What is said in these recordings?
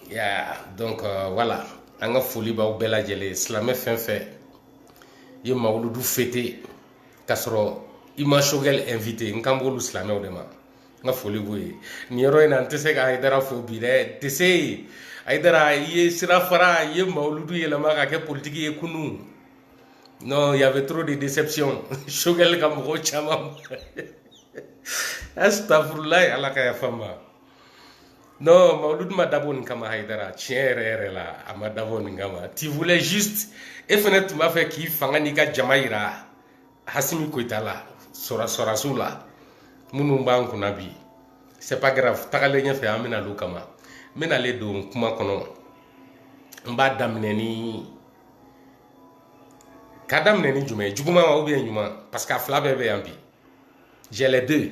ya donc uh, voilà an ka foli b'aw bɛɛ lajɛlen silamɛ fɛn fɛn ye mawuludu fêté k'a sɔrɔ i ma choguel invité n kan b'olu silamɛw de ma n ka foli b'o ye nin yɔrɔ in na n tɛ se ka ayidara fo bi dɛ tɛ se ayidara i ye sira fara i ye mawuludu yɛlɛma ka kɛ politiki ye kunun non il y avait trop de déception choguel ka mɔgɔw caman astafurulayi ala ka yafa n ma Non, Mawuludu ma dabɔ nin kama Haidara, tiɲɛ yɛrɛ yɛrɛ la, a ma dabɔ nin kama. Tu voulais juste, e fɛnɛ tun b'a fɛ k'i fanga n'i ka jama yira Asimi Goyita la, sɔrasiw la, minnu b'an kunna bi. C'est pas grave, tagalen ɲɛfɛ an bɛ na olu kama. Mais n nalen don kuma kɔnɔ, n b'a daminɛ ni k'a daminɛ ni jumɛn ye juguman wa ou bien ɲuman parce que a fila bɛɛ bɛ yan bi j'ai les deux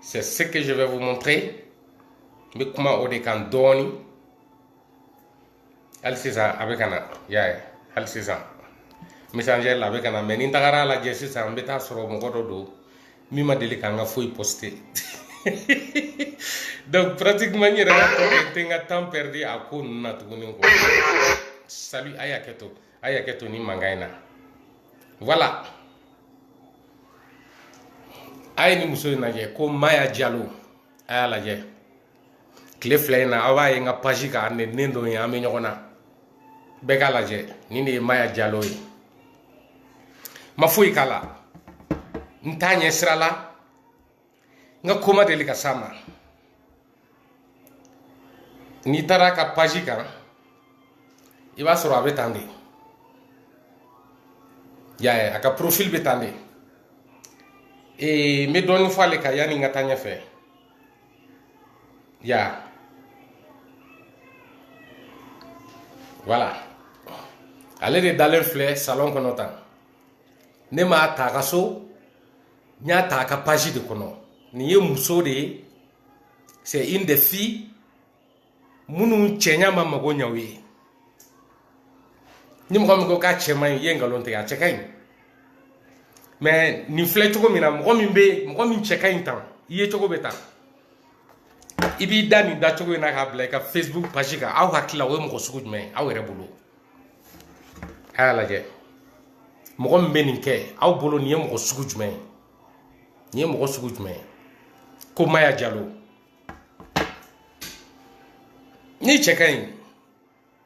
c'est ce que je vais vous montrer n bɛ kuma o de kan dɔɔni hali sisan a bɛ ka na y'a ye hali sisan messenger la a bɛ ka na mais ni n tagara a lajɛ sisan n bɛ t'a sɔrɔ mɔgɔ dɔ don min ma deli k'an ka foyi poster donc pratiquement n yɛrɛ ka tɔ kɛ n tɛ n ka temps perdu a ko ninnu na tuguni quoi salut a ye hakɛ to a ye hakɛ to nin mankan in na voilà. a ye nin muso in lajɛ ko maya jalo a y'a lajɛ tile fila in na aw b'a ye n ka paji kan ne den dɔ ye an bɛ ɲɔgɔn na bɛɛ k'a lajɛ nin de ye maya jalo ye n ma foyi k'a la n t'a ɲɛ sira la n ka ko ma deli ka s'a ma n'i taara a ka paji kan i b'a sɔrɔ a bɛ tan de y'a ye a ka porofili bɛ tan de ee n bɛ dɔɔnin fɔ ale kan yanni n ka taa ɲɛfɛ ya voilà ale de dalen filɛ salɔn kɔnɔ tan ne m'a ta a ka so n y'a ta a ka page de kɔnɔ nin ye muso de ye c'est une des filles minnu cɛɲa ma mago ɲa u ye ni mɔgɔ min ko k'a cɛ man ɲi i ye nkalon tigɛ a cɛ ka ɲi mais nin filɛ cogo min na mɔgɔ min bɛ mɔgɔ min cɛ ka ɲi tan i yecogo bɛ tan i b'i da nin dacogo in na k'a bila i ka facebook page kan aw hakili la o ye mɔgɔ sugu jumɛn ye aw yɛrɛ bolo a y'a lajɛ mɔgɔ min bɛ nin kɛ aw bolo nin ye mɔgɔ sugu jumɛn ye nin ye mɔgɔ sugu jumɛn ye ko maya jalo n'i cɛ ka ɲi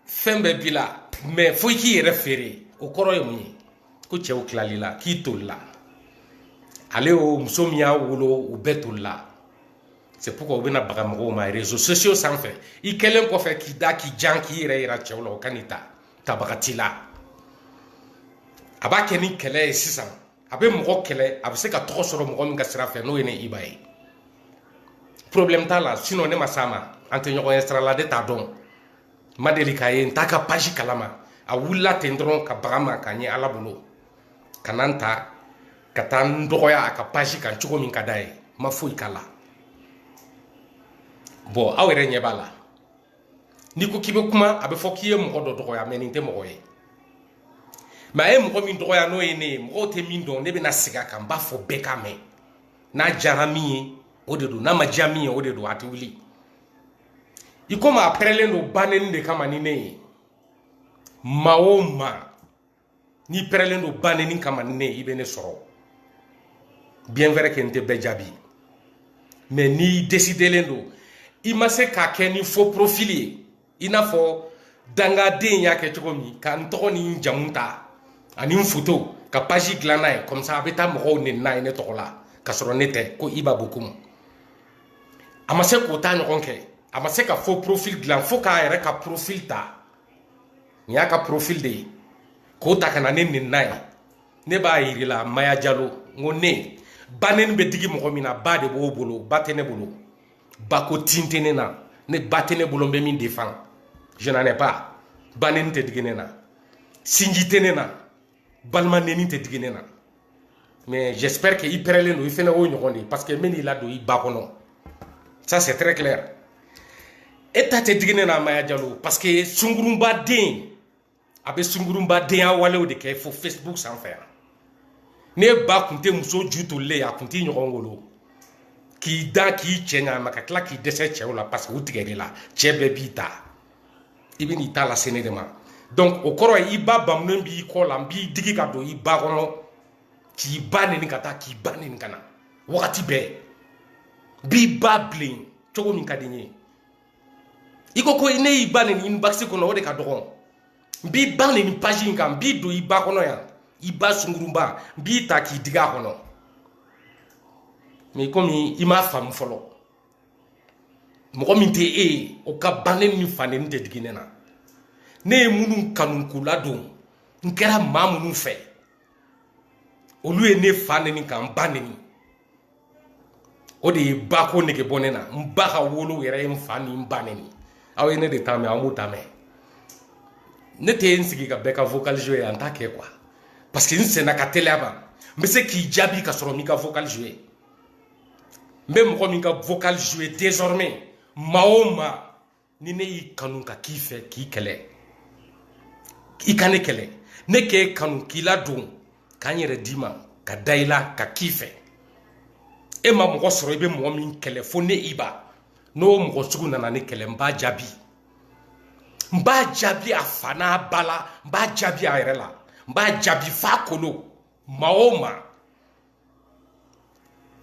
fɛn bɛɛ b'i la mais fo i k'i yɛrɛ feere o kɔrɔ ye mun ye ko cɛw tilala i la k'i tolila ale o muso min y'a wolo u bɛɛ tolila c'est pourquoi u bɛna baga mɔgɔw ma réseaux sociaux sanfɛ i kɛlen kɔfɛ k'i da k'i jan k'i yɛrɛ yira cɛw la o ka n'i ta tabaga t'i la a b'a kɛ ni kɛlɛ ye sisan a bɛ mɔgɔ kɛlɛ a bɛ se ka tɔgɔ sɔrɔ mɔgɔ min ka sira fɛ n'o ye ne iba ye problème t'a la sinon ne ma s'a ma an tɛ ɲɔgɔn ye sira la ne t'a dɔn n ma deli k'a ye n t'a ka page kalama a wulila ten dɔrɔn ka baga n ma k'a ɲɛ ala bolo ka na n ta ka taa n dɔgɔya a ka page kan cogo min ka d'a ye n ma foyi k'a la bon aw yɛrɛ ɲɛ b'a la n'i ko k'i bɛ kuma a bɛ fɔ k'i ye mɔgɔ dɔ dɔgɔya mais nin tɛ mɔgɔ ye mais a ye mɔgɔ min dɔgɔya n'o ye ne ye mɔgɔw tɛ min dɔn ne bɛna segin a kan n b'a fɔ bɛɛ k'a mɛn n'a diyara min ye o de don n'a ma diya min ye o de don a tɛ wuli i komi a pɛrɛlen don ba neni de kama ni ne ye maa o maa n'i pɛrɛlen don ba neni kama ni ne ye i bɛ ne sɔrɔ bien vrai que n tɛ bɛɛ jaabi mais n'i décidelen don i ma se k'a kɛ ni faux profil ye i n'a fɔ dangaden y'a kɛ cogo min ka n tɔgɔ ni n jamu ta ani n foto ka page dilan n'a ye comme ça a bɛ taa mɔgɔw neni n'a ye ne tɔgɔ la ka sɔrɔ ne tɛ ko iba bokumu a ma se k'o ta ɲɔgɔn kɛ a ma se ka faux profil dilan fo k'a yɛrɛ ka profil ta nin y'a ka profil de ye k'o ta ka na ne neni n'a ye ne b'a yir'i la maya jalo n ko ne ba neni bɛ digi mɔgɔ min na ba de b'o bolo ba tɛ ne bolo ba ko tin tɛ ne na ne ba tɛ ne bolo n bɛ min défend je n'en ai pas ba neni tɛ digi ne na sinji tɛ ne na balima neni tɛ digi ne na mais j'espère que i pɛrɛlen don i fɛnɛ o ɲɔgɔn de parce que n bɛn'i ladon i ba kɔnɔ ça c'est très clair e ta tɛ digi ne na maya jalo parce que sungurunba den a bɛ sungurunba denya walew de kɛ fo facebook sanfɛ yan ne ba kun tɛ muso ju tolilen ye a kun t'i ɲɔgɔn wolo k'i da k'i cɛ ɲa ma ka tila k'i dɛsɛ cɛw la parce que u tigɛr'i la cɛ bɛɛ b'i ta i bɛn'i ta lase ne de ma donc o kɔrɔ ye i ba bamunen b'i kɔ la n b'i digi ka don i ba kɔnɔ k'i ba neni ka taa k'i ba neni ka na wagati bɛɛ n b'i ba bilen cogo min ka di n ye i ko ko ne y'i ba neni inbox kɔnɔ o de ka dɔgɔn n b'i ba neni page in kan n b'i don i ba kɔnɔ yan i ba sungurunba n b'i ta k'i digi a kɔnɔ mais komi i m'a faamu fɔlɔ mɔgɔ min tɛ e ye o ka ba neni fa neni tɛ digi ne na ne ye minnu kanu k'u ladon n kɛra maa minnu fɛ olu ye ne fa neni ka n ba neni o de ye ba ko nege bɔ ne na n ba ka wolo yɛrɛ ye n fa ni n ba neni aw ye ne de ta mɛn an b'o ta mɛn ne tɛ n sigi ka bɛɛ ka vocal jouer an t'a kɛ quoi parce que n senna ka teliya ban n bɛ se k'i jaabi ka sɔrɔ n m'i ka vocal jouer n bɛ mɔgɔ min ka vocal jouer désormais maa o maa ni ne y'i kanu ka k'i fɛ k'i kɛlɛ i ka ne kɛlɛ ne k'e kanu k'i ladon ka n yɛrɛ d'i ma ka da i la ka k'i fɛ e ma mɔgɔ sɔrɔ i bɛ mɔgɔ min kɛlɛ fo ne i ba n'o mɔgɔ sugu nana ne kɛlɛ n b'a jaabi n b'a jaabi a fa n'a ba la n b'a jaabi a yɛrɛ la n b'a jaabi f'a kolo maa o maa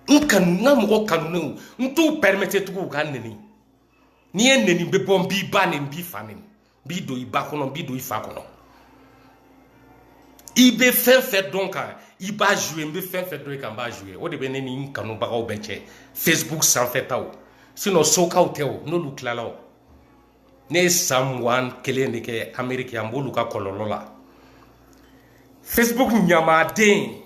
n kanu n ka mɔgɔ kanunenw n t'u permettre tugun u ka n neni n'i ye n neni n bɛ bɔ n b'i ba neni n b'i fa neni n b'i don i ba kɔnɔ n b'i don i fa kɔnɔ i bɛ fɛn fɛn dɔn n kan i b'a jouer n bɛ fɛn fɛn dɔn i kan n b'a jouer o de bɛ ne ni n kanubagaw bɛɛ cɛ facebook sanfɛtaw sinon sokaw tɛ o n'olu tilala o ne ye san mugan kelen de kɛ ameriki an b'olu ka kɔlɔlɔ la facebook ɲamaden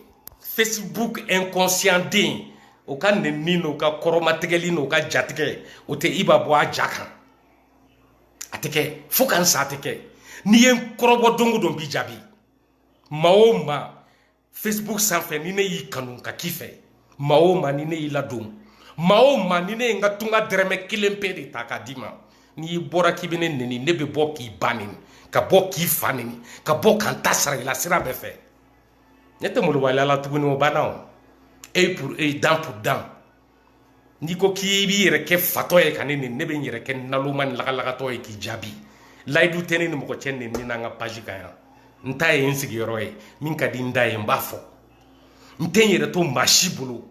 facebook inconscient den o ka nenni n'o ka kɔrɔmatigɛli n'o ka jatigɛ o tɛ i ba bɔ a ja kan a tɛ kɛ fo ka n sa a tɛ kɛ n'i ye n kɔrɔbɔ don o don n b'i jaabi maa o maa facebook sanfɛ ni ne y'i kanu ka k'i fɛ maa o maa ni ne y'i ladon maa o maa ni ne ye n ka tunga dɛrɛmɛ kelen pe de ta k'a d'i ma n'i bɔra k'i bɛ ne neni ne bɛ bɔ k'i ba neni ka bɔ k'i fa neni ka bɔ ka n ta sara i la sira bɛɛ fɛ ne tɛ malobaliya la tuguni o banna o œil pour œil dent pour dent n'i ko k'i b'i yɛrɛ kɛ fatɔ ye ka ne neni ne bɛ n yɛrɛ kɛ naloma ni lagalagatɔ ye k'i jaabi layidu tɛ ne ni mɔgɔ cɛ neni n'an ka page kan yan n ta ye n sigiyɔrɔ ye min ka di n da ye n b'a fɔ n tɛ n yɛrɛ to maa si bolo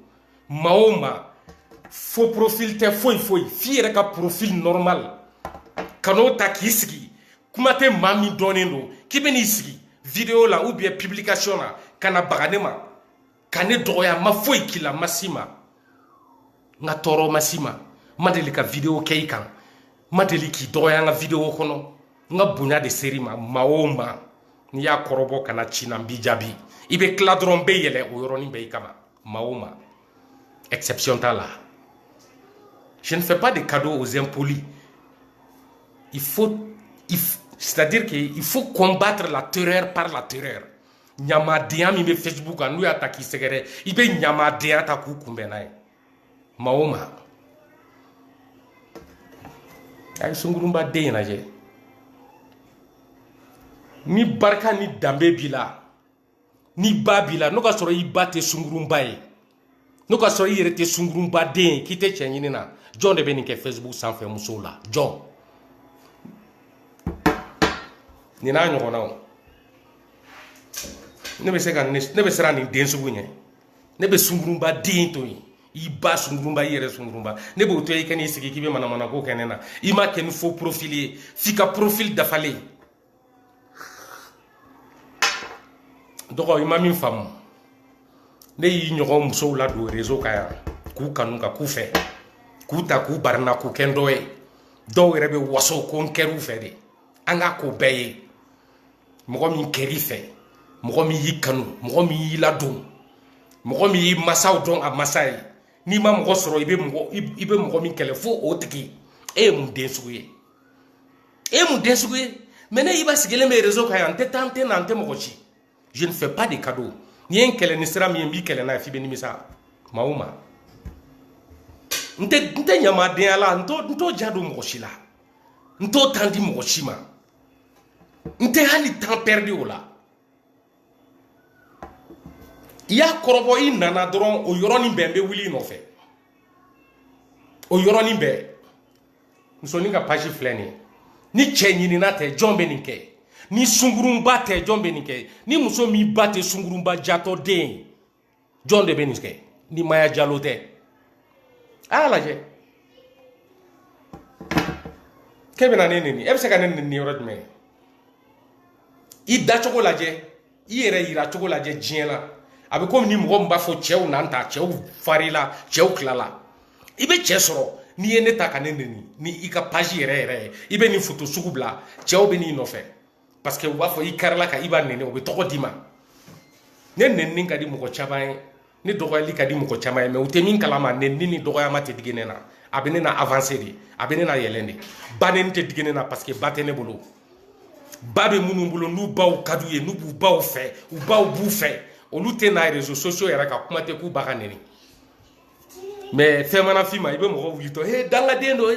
maa o maa faux profil tɛ foyi foyi f'i yɛrɛ ka profil normal ka n'o ta k'i sigi kuma tɛ maa min dɔnnen don k'i bɛ n'i sigi video la ou bien publication na ka na baga ne ma ka ne dɔgɔya n ma foyi k'i la n ma s'i ma n ka tɔɔrɔ ma s'i ma n ma deli ka video kɛ i kan n ma deli k'i dɔgɔya n ka video kɔnɔ n ka bonya de ser'i ma maa o maa n'i y'a kɔrɔbɔ ka na ci n na n b'i jaabi i bɛ tila dɔrɔn n bɛ yɛlɛ o yɔrɔnin bɛɛ i kama maa o maa exception t'a la je ne fais pas de cadeaux aux impolis il faut il, c'est-à-dire qu'il faut combattre la terreur par la terreur ɲamadenya min bɛ facebook kan n'u y'a ta k'i sɛgɛrɛ i bɛ ɲamadenya ta k'u kunbɛn n'a ye maa o maa a ye sungurunba den in lajɛ ni barika ni danbe b'i la ni ba b'i la n'o ka sɔrɔ i ba tɛ sungurunba ye n'o ka sɔrɔ i yɛrɛ tɛ sunkurunba den ye k'i tɛ cɛ ɲinina jɔn de bɛ nin kɛ facebook sanfɛ musow la jɔn nin n'a ɲɔgɔnnaw ne bɛ se ka ne bɛ siran nin den sugu ɲɛ ne bɛ sunkurunba den to yen i ba sunkurunba i yɛrɛ sunkurunba ne b'o to i ka n'i sigi k'i bɛ manamana ko kɛ ne na i m'a kɛ ni faux profil ye f'i ka profil dafalen dɔgɔ i ma min faamu ne y'i ɲɔgɔn musow ladon réseau kan yan k'u kanu ka k'u fɛ k'u ta k'u barina k'u kɛ n dɔ ye dɔw yɛrɛ bɛ waso ko n kɛr'u fɛ de an ka ko bɛɛ ye mɔgɔ min kɛr'i fɛ mɔgɔ min y'i kanu mɔgɔ min y'i ladon mɔgɔ min y'i masaw dɔn a masa ye n'i ma mɔgɔ sɔrɔ i bɛ mɔgɔ i bɛ mɔgɔ min kɛlɛ fo o tigi e ye mun den sugu ye e mun den sugu ye mais ne iba sigilen bɛ réseau kan yan n tɛ taa n tɛ na n tɛ mɔgɔ ci je ne fais pas de cadeau n'i ye n kɛlɛ ni sira min ye n b'i kɛlɛ n'a ye f'i bɛ nimisa maa o maa n tɛ n tɛ ɲamadenya la n t'o n t'o ja don mɔgɔ si la n t'o temps di mɔgɔ si ma n tɛ hali temps pɛridi o la i y'a kɔrɔbɔ i nana dɔrɔn o yɔrɔnin bɛɛ n bɛ wuli i nɔfɛ o yɔrɔnin bɛɛ musonin ka page filɛ nin ye ni cɛ ɲinina tɛ jɔn bɛ nin kɛ ni sunkurunba tɛ jɔn bɛ nin kɛ ni muso min ba tɛ sunkurunba jatɔ den ye jɔn de bɛ nin kɛ ni maya jalo tɛ a y'a lajɛ k'e bɛna ne neni e bɛ se ka ne neni yɔrɔ jumɛn i dacogo lajɛ i yɛrɛ yira cogo lajɛ diɲɛ la a bɛ komi ni mɔgɔ min b'a fɔ cɛw na n ta cɛw farila cɛw tilala i bɛ cɛ sɔrɔ n'i ye ne ta ka ne neni ni i ka page yɛrɛ yɛrɛ ye i bɛ nin foto sugu bila cɛw bɛ n'i nɔfɛ parce que u b'a fɔ i karila ka iba neni o bɛ tɔgɔ d'i ma ne nenini ka di mɔgɔ caman ye ne dɔgɔyali ka di mɔgɔ caman ye mais u tɛ min kalama neni ni dɔgɔyama tɛ digi ne na a bɛ ne na avancer de a bɛ ne na yɛlɛn de ba neni tɛ digi ne na parce que ba tɛ ne bolo ba bɛ minnu bolo n'u baw ka d'u ye n'u b'u baw fɛ u baw b'u fɛ olu tɛ na réseaux sociaux yɛrɛ kan kuma tɛ k'u ba ka neni mais fɛn mana f'i ma i bɛ mɔgɔ wulitɔ he dangaden don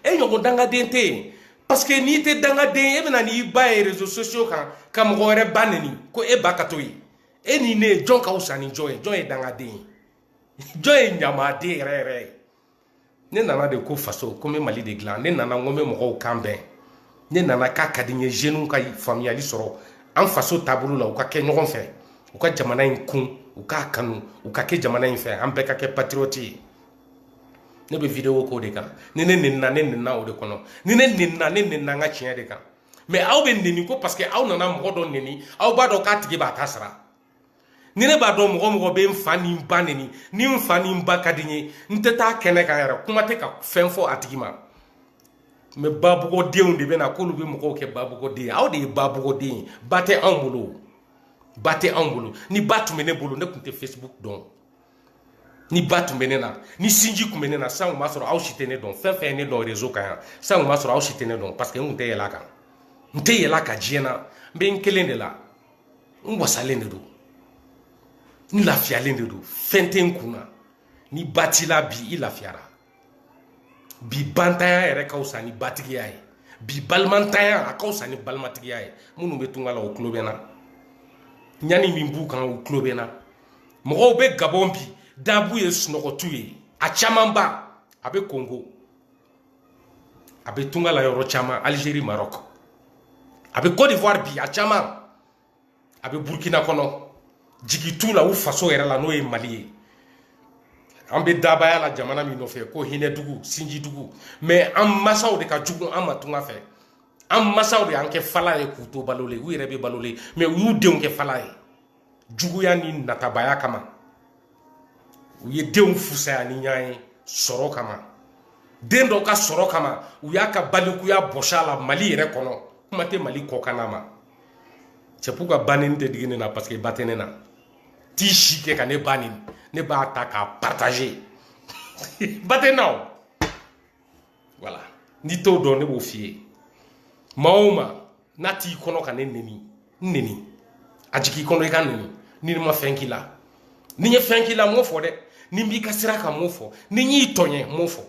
e ɲɔgɔn dangaden tɛ yen parce que n'i tɛ dangaden e bɛna n'i ba ye réseaux sociaux kan ka mɔgɔ wɛrɛ ba neni ko e ba ka to yen e ni ne jɔn ka wusa ni jɔn ye jɔn ye dangaden ye jɔn ye ɲamaden yɛrɛ yɛrɛ ye ne nana de ko faso ko n bɛ mali de dilan ne nana n ko n bɛ mɔgɔw kan bɛn ne nana k'a ka di n ye zeniw ka faamuyali sɔrɔ an faso taabolo la u ka kɛ ɲɔgɔn fɛ u ka jamana in kun u k'a kanu u ka kɛ jamana in fɛ an bɛɛ ka kɛ patriote ye ne bɛ vidéo k'o de kan ni ne nenina ne nenina o de kɔnɔ ni ne nenina ne nenina n ka tiɲɛ de kan mɛ aw bɛ neni ko parce que aw nana mɔgɔ dɔ neni aw b'a dɔn k'a tigi b'a ta sara ni ne b'a dɔn mɔgɔ o mɔgɔ bɛ n fa ni n ba neni ni n fa ni n ba ka di n ye n tɛ taa kɛnɛ kan yɛrɛ kuma tɛ ka fɛn fɔ a tigi ma mɛ babugɔdenw de bɛ na k'olu bɛ mɔgɔw kɛ babugɔden ye aw de ye babugɔden ye ba tɛ anw bolo ba tɛ anw bolo ni ba tun bɛ ne bolo ne tun tɛ facebook dɔn ni ba tun bɛ ne na ni sinji tun bɛ ne na san tun b'a sɔrɔ aw si tɛ ne dɔn fɛn fɛn ye ne dɔn rezo kan yan san tun b'a sɔrɔ aw si tɛ ne dɔn parce que n tun tɛ yɛlɛ a kan n tɛ yɛlɛ a kan diɲɛ na n bɛ n kelen de la n wasalen de don n lafiyalen de don fɛn tɛ n kun na ni ba t'i la bi i lafiyara bi bantanya yɛrɛ ka fisa ni batigiya ye bi balimantanya a ka fisa ni balimatigiya ye minnu bɛ tunga la o tulo bɛ n na ɲani min b'u kan u tulo bɛ n na mɔgɔw bɛ gabɔn bi da b'u ye sunɔgɔ t'u ye a camanba a bɛ kongo a bɛ tunga la yɔrɔ caman alizeri marɔk a bɛ cote d'ivoire bi a caman a bɛ burukina kɔnɔ jigi t'u la u faso yɛrɛ la n'o ye mali ye an bɛ dabaya la jamana min nɔfɛ ko hinɛ dugu sinji dugu mɛ an masaw de ka jugu an ma tunga fɛ an masaw de y'an kɛ fala ye k'u to balolen u yɛrɛ bɛ balolen mɛ u y'u denw kɛ fala ye juguya ni natabaya kama u ye denw fusaya ni ɲɔgɔn ye sɔrɔ kama den dɔ ka sɔrɔ kama u y'a ka balikuya bɔsi a la mali yɛrɛ kɔnɔ kuma tɛ mali kɔkanna ma c'est pourquoi ba neni tɛ digi ne na parce que ba tɛ ne na t'i si kɛ ka ne ba neni ne b'a ta k'a partager ba tɛ n na o wala n'i t'o dɔn ne b'o f'i ye maa o maa n'a t'i kɔnɔ ka ne neni n neni a jigin i kɔnɔ i ka n neni ni ne ma fɛn k'i la ni n ye fɛn k'i la n m'o fɔ dɛ ni n b'i ka sira kan n m'o fɔ ni n y'i tɔɲɛ n m'o fɔ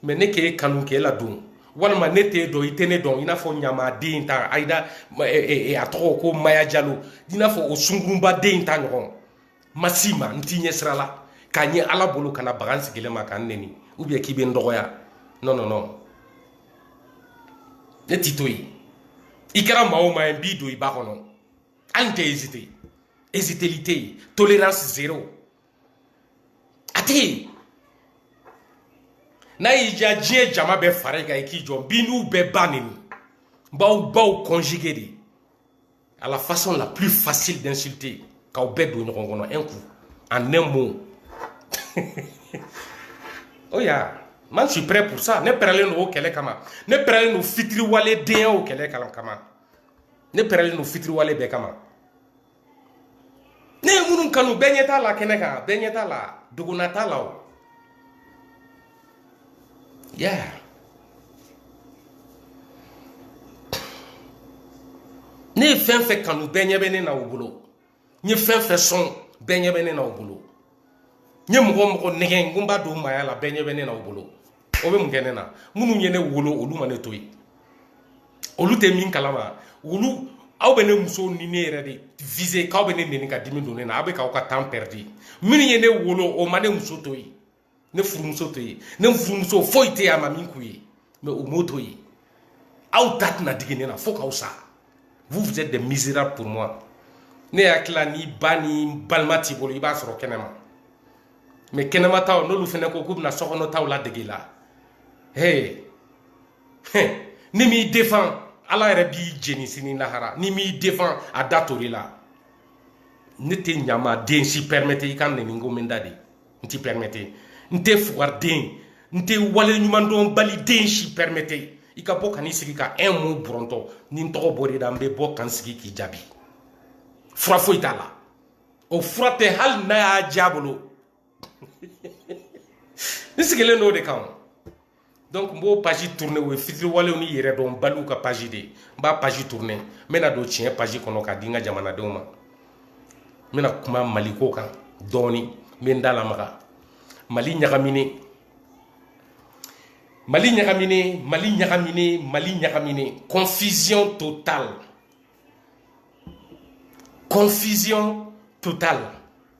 mɛ ne k'e kanu k'e ladon walima ne t'e dɔn i tɛ ne dɔn i n'a fɔ ɲamaden ta ayida a tɔgɔ ko maya jalo i n'a fɔ o sungurunba den ta ɲɔgɔn ma s'i ma n t'i ɲɛ sira la k'a ɲɛ ala bolo ka na baga n sigilen ma ka n neni ou bien k'i bɛ n dɔgɔya non non non ne t'i to yen i kɛra maa o maa ye n b'i don i ba kɔnɔ hali n tɛ ezite eziteli tɛ yen tolerance zero a tɛ yen n'a y'i diya diɲɛ jama bɛɛ fara i kan i k'i jɔ n b'i n'u bɛɛ ba neni n b'aw baw conjuguer de à la façon la plus facile d'insulter k'aw bɛɛ don ɲɔgɔn kɔnɔ un coup en un mot o oh ya man suis prêt pour ça ne pɛrɛlen don o kɛlɛ kama ne pɛrɛlen don fitiriwale den aw kɛlɛ kama ne pɛrɛlen don fitiriwale bɛɛ kama ne ye minnu kanu bɛɛ ɲɛ t'a la kɛnɛ kan bɛɛ ɲɛ t'a la dogona t'a la o Yeah. ne ye fɛn fɛn kanu bɛɛ ɲɛ bɛ ne na u bolo n ye fɛn fɛn sɔn bɛɛ ɲɛ bɛ ne na u bolo n ye mɔgɔ mɔgɔ nɛgɛn ko n b'a don maaya la bɛɛ ɲɛ bɛ ne na u bolo o bɛ mun kɛ ne na minnu ye ne wolo olu ma ne to yen olu tɛ min kalama olu aw bɛ ne muso ni ne yɛrɛ de viser k'aw bɛ ne neni ka dimi don ne na aw bɛ k'aw ka temps perdre minnu ye ne wolo o ma ne muso to yen ne furumuso to yen ne furumuso foyi tɛ yen a ma min k'u ye mais u m'o to yen aw ta tɛna digi ne na fo k'aw sa vous vous êtes des misérables pour moi ne hakili la ni ba ni balima t'i bolo i b'a sɔrɔ kɛnɛma mais kɛnɛma taw n'olu fɛnɛ ko k'u bɛna sokɔnɔ taw ladege la he n'i m'i défend ala yɛrɛ b'i jeni sini lahara n'i m'i défend a da tori la ne tɛ ɲama den si permettre i ka n neni ko min da de n t'i permettre n tɛ fugariden n tɛ wale ɲuman dɔn bali den si permettre i ka bɔ ka n'i sigi ka un mot bɔrɔntɔ ni n tɔgɔ bɔr'i da n bɛ bɔ ka n sigi k'i jaabi fura foyi t'a la o fura tɛ hali n'a y'a diya bolo n sigilen don o de kan donc n b'o page tourner o ye fitiriwalew ni yɛrɛ dɔn baliw ka page de ye n b'a page tourner n bɛna don tiɲɛ page kɔnɔ k'a di n ka jamanadenw ma n bɛna kuma maliko kan dɔɔni n bɛ n da lamaga mali ɲagaminen mali ɲagaminen confusion totale confusion totale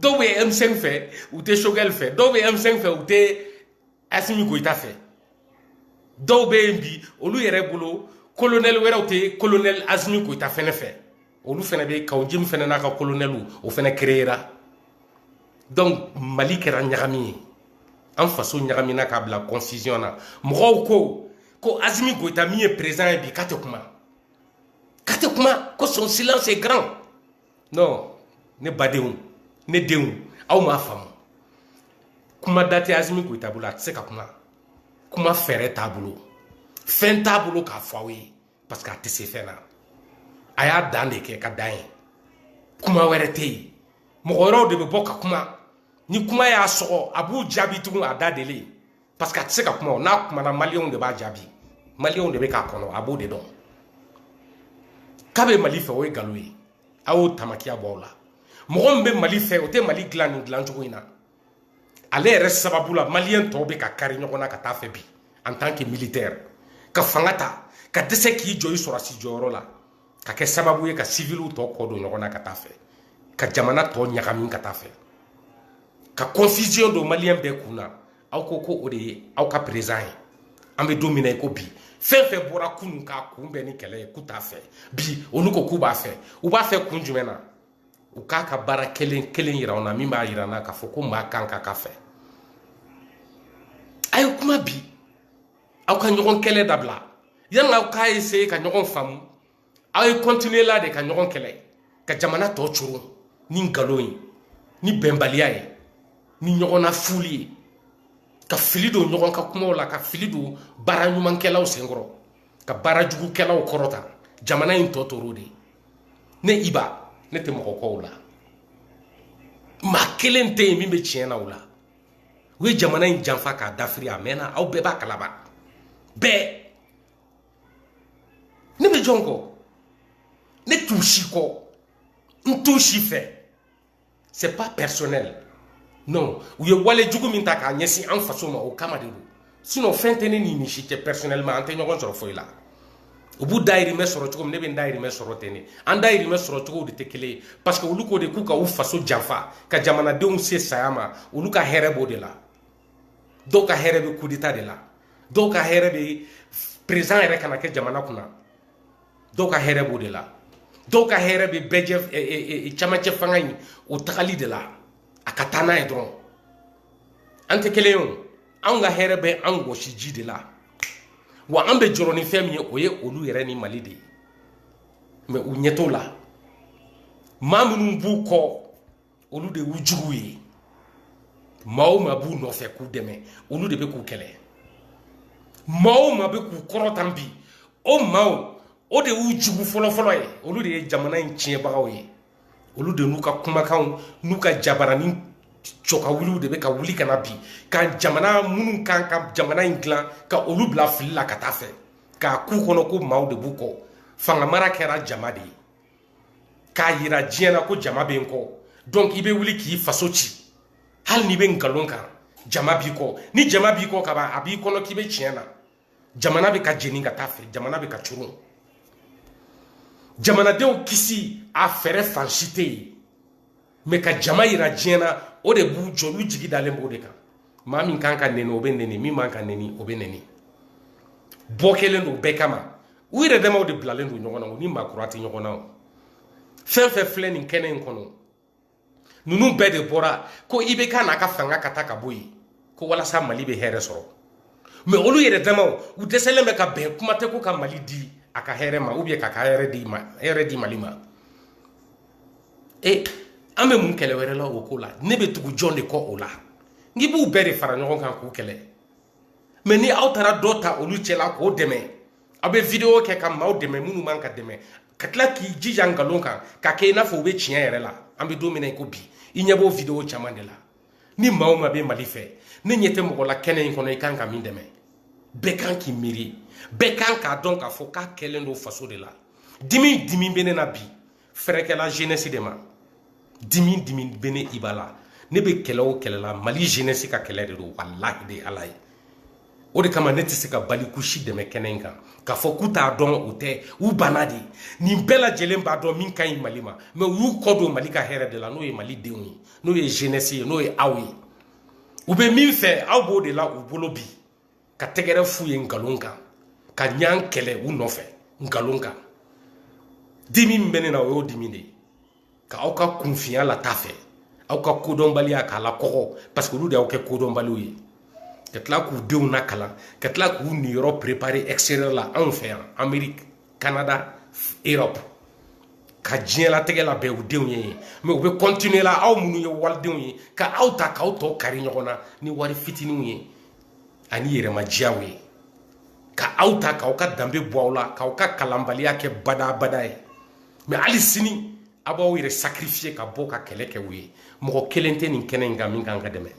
dɔw bɛ M5 fɛ u tɛ Choguel fɛ dɔw bɛ M5 fɛ u tɛ Asimi Goyita fɛ dɔw bɛ yen bi olu yɛrɛ bolo colonel wɛrɛw tɛ colonel Asimi Goyita fɛnɛ fɛ olu fɛnɛ bɛ Kaw Jim fɛnɛ n'a ka colonel o fɛnɛ créera donc Mali kɛra ɲagami ye an faso ɲagamina k'a bila confusion na mɔgɔw ko ko Asimi Goyita min ye président ye bi k'a tɛ kuma k'a tɛ kuma ko son silence est grand non ne badenw ne denw aw m'a faamu kuma da tɛ Asimi Goyita bolo a tɛ se ka kuma kuma fɛɛrɛ t'a bolo fɛn t'a bolo k'a fɔ aw ye parce que a tɛ se fɛn na a y'a dan de kɛ ka dan ye kuma wɛrɛ tɛ yen mɔgɔ wɛrɛw de bɛ bɔ ka kuma ni kuma y'a sɔgɔ a b'u jaabi tugun a da deli parce que a tɛ se ka kuma n'a kumana maliyɛnw de b'a jaabi maliyɛnw de bɛ k'a kɔnɔ a b'o de dɔn k'a bɛ mali fɛ o ye nkalon ye a y'o tamakiya bɔ aw la mɔgɔ min bɛ mali fɛ o tɛ mali dilan nin dilan cogo in na ale yɛrɛ sababu la maliyɛn tɔw bɛ ka kari ɲɔgɔn na ka taa fɛ bi en tant que militaire ka fanga ta ka dɛsɛ k'i jɔ i sɔrɔdasi jɔyɔrɔ la ka kɛ sababu ye ka siviliw tɔ kɔ don ɲɔgɔn na ka taa fɛ ka jamana tɔ ɲagami ka taa fɛ ka confusion don maliyɛn bɛɛ kun na aw ko ko o de ye aw ka perezidan ye an bɛ don min na i ko bi fɛn fɛn bɔra kunun k'a kunbɛn ni kɛlɛ ye k'u t'a fɛ bi olu ko k'u b'a fɛ u b'a fɛ kun jumɛn na u k'a ka baara kelen kelen yira anw na min b'a yira an na k'a fɔ ko maa kan ka k'a fɛ a ye kuma bi aw ka ɲɔgɔn kɛlɛ dabila yanni aw k'a ese ka ɲɔgɔn faamu aw ye kɔntiniye la de ka ɲɔgɔn kɛlɛ ka jamana tɔ coron ni nkalon ye ni bɛnbaliya ye ni ɲɔgɔn nafuli ye ka fili don ɲɔgɔn ka kumaw la ka fili don baara ɲumankɛlaw senkɔrɔ ka baara jugukɛlaw kɔrɔta jamana in tɔ tora o de ne iba ne tɛ mɔgɔ kɔ o la maa kelen tɛ yen min bɛ tiɲɛ na o la u ye jamana in janfa k'a dafiri a mɛnna aw bɛɛ b'a kalama bɛɛ ne bɛ jɔn kɔ ne t'u si kɔ n t'u si fɛ c'est pas personnel non u ye wale jugu min ta k'a ɲɛsin an faso ma o kama de don sinon fɛn tɛ ne ni nin si cɛ personnellement an tɛ ɲɔgɔn sɔrɔ foyi la u b'u dayirimɛ sɔrɔ cogo min ne bɛ n dayirimɛ sɔrɔ ten de an dayirimɛ sɔrɔ cogo de tɛ kelen ye parce que olu ko de k'u ka u faso janfa ka jamanadenw se saya ma olu ka hɛrɛ b'o de la dɔw ka hɛrɛ bɛ kudeta de la dɔw ka hɛrɛ bɛ perezidan yɛrɛ kana kɛ jamana kunna dɔw ka hɛrɛ b'o de la dɔw ka hɛrɛ bɛ bɛɛjɛ e, e, e, camancɛ fanga in o tagali de la a ka taa n'a ye dɔrɔn an tɛ kelen ye o anw ka hɛrɛ bɛ an wɔsiji de la wa an bɛ jɔrɔ ni fɛn min ye o ye olu yɛrɛ ni mali de ye mɛ u ɲɛ t'o la maa minnu b'u kɔ olu de y'u juguw ye maa o maa b'u nɔfɛ k'u dɛmɛ olu de bɛ k'u kɛlɛ maa o maa bɛ k'u kɔrɔtan bi o maaw o de y'u jugu fɔlɔfɔlɔ ye olu de ye jamana in tiɲɛbagaw ye olu de n'u ka kumakanw n'u ka jabaranin cɔkawuliw de bɛ ka wuli ka na bi ka jamana minnu kan ka jamana in dilan ka olu bila fili la ka taa fɛ k'a k'u kɔnɔ ko maaw de b'u kɔ fanga mara kɛra jama de ye k'a yira diɲɛ na ko jama bɛ n kɔ donc i bɛ wuli k'i faso ci hali n'i bɛ nkalon kan jama b'i kɔ ni jama b'i kɔ kaban a b'i kɔnɔ k'i bɛ tiɲɛ na jamana bɛ ka jeni ka taa fɛ jamana bɛ ka coron jamanadenw kisi a fɛɛrɛ fan si tɛ yen mɛ ka jama yira diɲɛ na o de b'u jɔ olu jigi dalen b'o de kan maa min kan ka nɛni o bɛ nɛni min man ka nɛni o bɛ nɛni bɔ kɛlen don bɛɛ kama u yɛrɛ damaw de bilalen don ɲɔgɔn na u ni maa kura tɛ ɲɔgɔn na o fɛn fɛn filɛ nin kɛnɛ in kɔnɔ ninnu bɛɛ de bɔra ko ibk n'a ka fanga ka taa ka bɔ yen ko walasa mali bɛ hɛrɛ sɔrɔ mais olu yɛrɛ damaw u dɛsɛlen bɛ ka bɛn kuma tɛ ko ka mali di a ka hɛrɛ ma ou bien k'a ka hɛrɛ di ma hɛrɛ di mali ma e an bɛ mun kɛlɛ wɛrɛ la o ko la ne bɛ tugu jɔn de kɔ o la n'i b'u bɛɛ de fara ɲɔgɔn kan k'u kɛlɛ mais ni aw taara dɔ ta olu cɛla k'o dɛmɛ aw bɛ vidéo kɛ ka maaw dɛmɛ minnu man ka dɛmɛ ka tila k'i jija nkalon kan k'a kɛ i n'a fɔ u bɛ tiɲɛ yɛrɛ la an bɛ don min na i ko bi i ɲɛ b'o vidéo caman de la ni maa o maa bɛ mali fɛ ne ɲɛ tɛ mɔgɔ la kɛnɛ in kɔnɔ i kan ka min dɛmɛ bɛɛ kan k'i miiri bɛɛ kan k'a dɔn k'a fɔ k'a kɛlen don faso de la dimi dimi bɛ ne na bi fɛrɛkɛla jeunesse de ma dimi dimi bɛ ne iba la ne bɛ kɛlɛ o kɛlɛ la mali jeunesse ka kɛlɛ de don walahi de ala ye o de kama ne tɛ se ka baliku si dɛmɛ kɛnɛ in kan k'a fɔ k'u t'a dɔn o tɛ u banna de nin bɛɛ lajɛlen b'a dɔn min ka ɲi mali ma mais u y'u kɔ don mali ka hɛrɛ de la n'o ye mali denw ye n'o ye jeunesse ye n'o ye aw ye u bɛ min fɛ aw b'o de la u bolo bi ka tɛgɛrɛ f'u ye nkalon kan ka ɲɔgɔn kɛlɛ u nɔfɛ nkalon kan dimi min bɛ ne na o y'o dimi de ye ka aw ka kunfinya lataa fɛ aw ka kodɔnbaliya k'a lakɔgɔ parce que olu de y'aw kɛ kodɔnbaliw ye ka tila k'u denw nakalan ka tila k'u niyɔrɔ préparer extérieur la anw fɛ yan amérique canada europe ka diɲɛlatigɛ labɛn u denw ye yen mais u bɛ continuer la aw minnu ye walidenw ye ka aw ta k'aw tɔ kari ɲɔgɔn na ni wari fitiniw ye ani yɛrɛmajiyaw ye ka aw ta k'aw ka danbe bɔ aw la k'aw ka kalanbaliya kɛ badabada ye mais hali sini a b'aw yɛrɛ sacrifier ka bɔ ka kɛlɛ kɛ u ye mɔgɔ kelen tɛ nin kɛnɛ in kan min kan ka dɛmɛ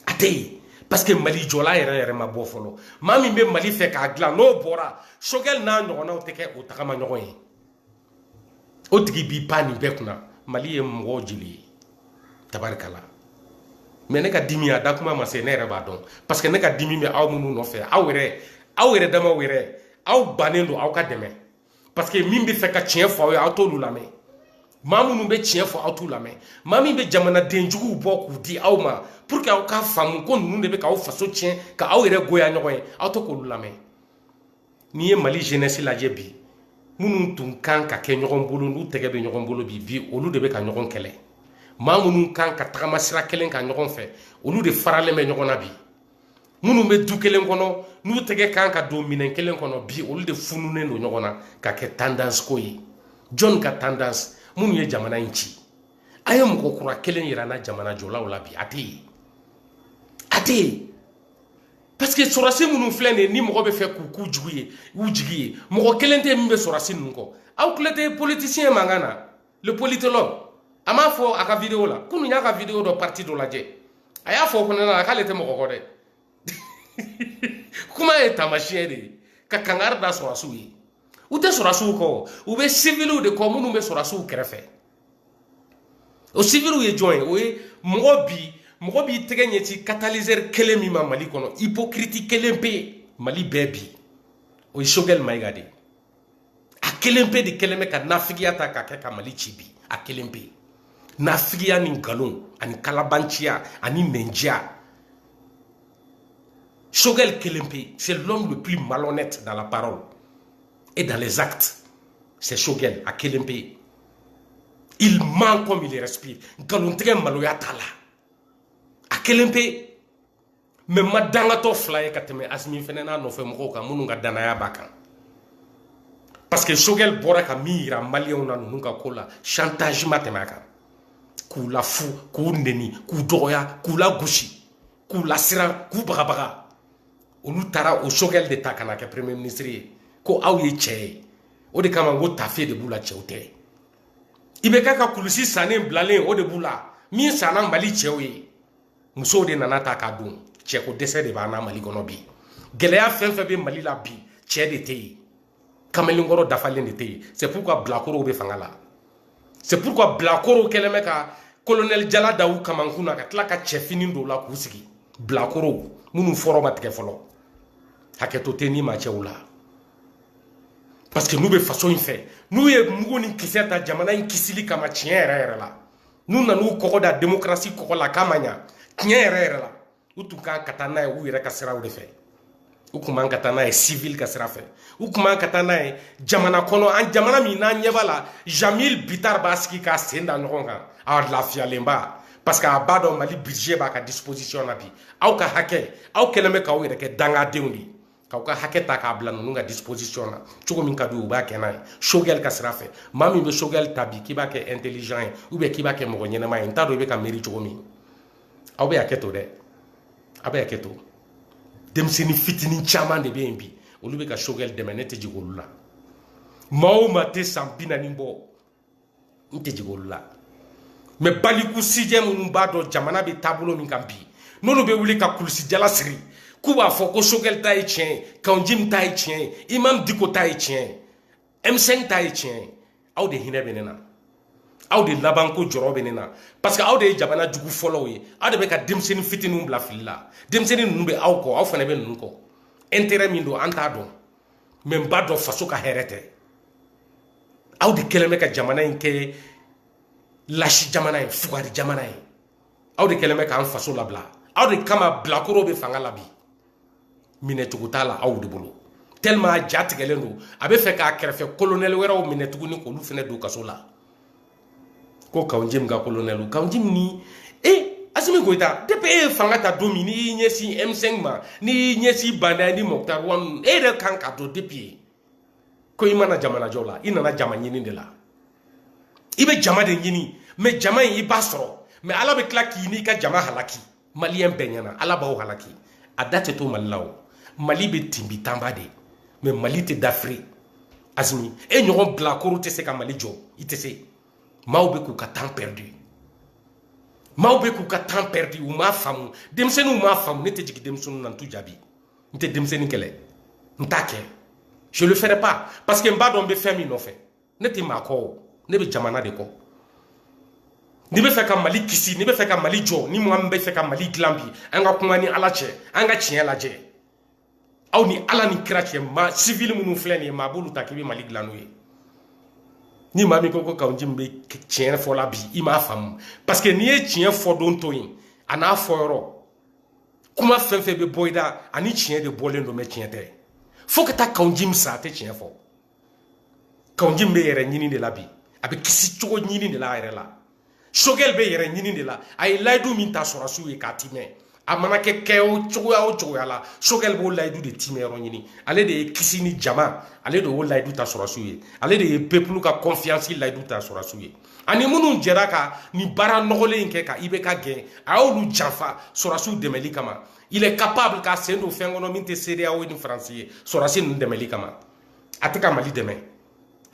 a tɛ yen parce que mali jɔla yɛrɛ yɛrɛ ma bɔ fɔlɔ maa min bɛ mali fɛ k'a dilan n'o bɔra choguel n'a ɲɔgɔnnaw tɛ kɛ o tagama ɲɔgɔn ye o tigi b'i pan nin bɛɛ kunna mali ye mɔgɔw jeli ye tabarikala mais ne ka dimi a da kuma ma se ne yɛrɛ b'a dɔn parce que ne ka dimi bɛ aw minnu nɔfɛ aw yɛrɛ aw yɛrɛ damaw yɛrɛ aw bannen don aw ka dɛmɛ parce que min bɛ fɛ ka tiɲɛ fɔ aw ye aw t'olu lamɛn maa minnu bɛ tiɲɛ fɔ aw t'u lamɛn maa min bɛ jamanaden juguw bɔ k'u di aw ma pour que aw k'a faamu ko ninnu de bɛ k'aw faso tiɲɛ ka aw yɛrɛ goya ɲɔgɔn ye aw tɛ k'olu lamɛn n'i ye mali jeunesse lajɛ bi minnu tun kan ka kɛ ɲɔgɔn bolo n'u tɛgɛ bɛ ɲɔgɔn bolo bi bi olu de bɛ ka ɲɔgɔn kɛlɛ maa minnu kan ka tagama sira kelen kan ɲɔgɔn fɛ olu de faralen bɛ ɲɔgɔn na bi minnu bɛ du kelen kɔnɔ n'u tɛgɛ kan ka don minɛn kelen kɔnɔ bi olu de fununen don ɲɔgɔn na ka kɛ tendance ko ye jɔn ka tendance minnu ye jamana in ci a ye mɔgɔ kura kelen yira n na jamana jɔlaw la bi a tɛ yen a tɛ yen parce que sɔrɔsi minnu filɛ nin ye ni mɔgɔ bɛ fɛ k'u k'u jugu ye u jigi ye mɔgɔ kelen tɛ min bɛ sɔrɔsi ninnu kɔ aw tulo tɛ politisiyɛn mankan na le politologue a m'a fɔ a ka video la kunu y'a ka video dɔ parti dɔ lajɛ a y'a fɔ o fana la k'ale tɛ mɔgɔ kɔ dɛ kuma ye taamasiyɛn de ye ka kangari da sɔrɔsiw ye u tɛ sɔrɔsiw kɔ u bɛ siviliw de kɔ minnu bɛ sɔrɔsiw kɛrɛfɛ o siviliw ye jɔn ye o ye mɔgɔ bi mɔgɔ b'i tɛgɛ ɲɛci katalizɛri kelen min ma mali kɔnɔ ipokiriti kelen pe mali bɛɛ bi o ye sogɛli mayiga de ye a kelen pe de kɛlen bɛ ka nafigiya ta k'a kɛ ka mali ci bi a kelen pe nafigiya ni nkalon ani kalabanciya ani nɛnjiya sogɛli kelen pe c'est l'homme le plus malhonnête dans la parole et dans les actes c'est Choguel a kelen pe il ment comme il respire nkalontigɛ maloya t'a la a kelen pe mais n ma dangatɔ fila ye ka tɛmɛ asimi fɛnɛ n'a nɔfɛ mɔgɔw kan minnu ka danaya b'a kan parce que sogɛl bɔra ka min yira maliyɛnw na ninnu ka ko la chantage ma tɛmɛ a kan k'u lafu k'u neni k'u dɔgɔya k'u lagosi k'u lasiran k'u bagabaga olu taara o sogɛli de ta ka na kɛ premier ministre ye ko aw ye cɛ ye o de kama ko tafe de b'u la cɛw tɛ IBK ka kulusi sannen bilalen o de b'u la min sanna mali cɛw ye musow de nan'a ta k'a don cɛko dɛsɛ de b'an na mali kɔnɔ bi gɛlɛya fɛn fɛn bɛ mali la bi cɛ de tɛ yen kamalenkɔrɔ dafalen de tɛ yen c'est pourquoi bilakorow bɛ fanga la c'est pourquoi bilakorow kɛlen bɛ ka kolonɛli jala da u kamankun na ka tila ka cɛfini don la k'u sigi bilakorow minnu fɔrɔ ma tigɛ fɔlɔ hakɛto tɛ ni ma cɛw la parce que n'u bɛ faso in fɛ n'u ye mugu ni kisɛ ta jamana in kisili kama tiɲɛ yɛrɛ yɛrɛ la n'u nan'u kɔgɔ da demokarasi kɔgɔ la k'a ma ɲa tiɲɛ yɛrɛ yɛrɛ la u tun kan ka taa n'a ye u yɛrɛ ka siraw de fɛ u tun man ka taa n'a ye civil ka sira fɛ u tun man ka taa n'a ye jamana kɔnɔ an jamana min n'an ɲɛ b'a la jamil bitar b'a sigi k'a sen da ɲɔgɔn kan a lafiyalenba parce que a b'a dɔn mali budget b'a ka disposition na bi aw ka hakɛ aw kɛlen bɛ k'aw yɛrɛ kɛ dangadenw de ye k'aw ka hakɛ ta k'a bila ninnu ka disposition na cogo min ka di u b'a kɛ n'a ye sogɛli ka sira fɛ maa min bɛ sogɛli ta bi k'i b'a kɛ intelligent ye ou bien k'i b'a kɛ mɔgɔ ɲɛnama ye n t'a dɔn i bɛ ka miiri cogo min aw bɛ hakɛ to dɛ aw bɛ hakɛ to denmisɛnnin fitinin caman de bɛ yen bi olu bɛ ka sogɛli dɛmɛ ne tɛ jigin olu la maa o maa tɛ san bi naani bɔ n tɛ jigin olu la mais baliku sijɛ minnu b'a dɔn jamana bɛ taabolo min kan bi n'olu bɛ wuli ka kulusijala siri k'u b'a fɔ ko sogɛli ta ye tiɲɛ ye kawunjim ta ye tiɲɛ ye imam diko ta ye tiɲɛ ye m5 ta ye tiɲɛ ye aw de hinɛ bɛ ne na aw de labanko jɔrɔ bɛ ne na parce que aw de ye jamana jugu fɔlɔw ye aw de bɛ ka denmisɛnnin fitininw bila fili la denmisɛnnin ninnu bɛ aw kɔ aw fana bɛ ninnu kɔ intérêt min don an t'a dɔn mais n b'a dɔn faso ka hɛrɛ tɛ aw de kɛlen bɛ ka jamana in kɛ lasi jamana ye fugari jamana ye aw de kɛlen bɛ k'an faso labila aw de kama bilakoro bɛ fanga la bi minɛcogo t'a la aw de bolo tellement a ja tigɛlen don a bɛ fɛ k'a kɛrɛfɛ kolonɛli wɛrɛw minɛ tuguni k'olu fɛnɛ don kaso la ko kawunjim ka kolonɛli kawunjim ni e asimi goyita depuis e ye fanga ta don min n'i y'i ɲɛsin m5 ma n'i y'i ɲɛsin ba ndaw ni mɔkutari wani e yɛrɛ kan k'a dɔn depuis yen ko i ma na jamana jɔ la i nana jama ɲini de la i bɛ jama de ɲini mais jama in i b'a sɔrɔ mais ala bɛ tila k'i n'i ka jama halaki maliyɛn bɛɛ ɲɛna ala b'aw halaki a da tɛ to mali la o mali bɛ tinbi tanba de mais mali tɛ dafiri asimi e ɲɔgɔn bilakoro tɛ se ka mali jɔ i tɛ se maaw bɛ k'u ka temps perdu maaw bɛ k'u ka temps perdu u m'a faamu denmisɛnninw m'a faamu ne tɛ jigin denmisɛnninw na n t'u jaabi n tɛ denmisɛnnin kɛlɛ n t'a kɛ je le ferai pas parce que n b'a dɔn n bɛ fɛn min nɔfɛ ne tɛ maa kɔ o ne bɛ jamana de kɔ n'i bɛ fɛ ka mali kisi n'i bɛ fɛ ka mali jɔ ni maa min bɛ fɛ ka mali dilan bi an ka kuma ni ala cɛ an ka tiɲɛ lajɛ aw ni ala ni kira cɛ maa sivili minnu filɛ nin ye maa b'olu ta k'i bɛ mali dilan n'u ye ni maa min ko ko kawunjim bɛ tiɲɛ fɔ la bi i m'a faamu parce que n'i ye tiɲɛ fɔ don to yen an'a fɔ yɔrɔ kuma fɛn fɛn bɛ bɔ i da a ni tiɲɛ de bɔlen don mais tiɲɛ tɛ fo ka taa kawunjim sa a tɛ tiɲɛ fɔ kawunjim bɛ yɛrɛ ɲini de la bi a bɛ kisi cogo ɲini de la a yɛrɛ la sogɛli bɛ yɛrɛ ɲini de la a ye layidu min ta sɔrɔsiw ye k'a timɛ a mana kɛ kɛ o cogoya o cogoya la sogɛli b'o layidu de timɛ yɔrɔ ɲini ale de ye kisi ni jama ale de y'o layidu ta sɔrɔsiw ye ale de ye pepulu ka kɔnfiyansi layidu ta sɔrɔsiw ye ani minnu jɛra ka nin baara nɔgɔlen in kɛ ka ibk gɛn a y'olu janfa sɔrɔsiw dɛmɛli kama il est capable k'a sen don fɛn kɔnɔ min tɛ cedeao ni faransi ye sɔrɔsi ninnu dɛmɛli kama a tɛ ka mali dɛmɛ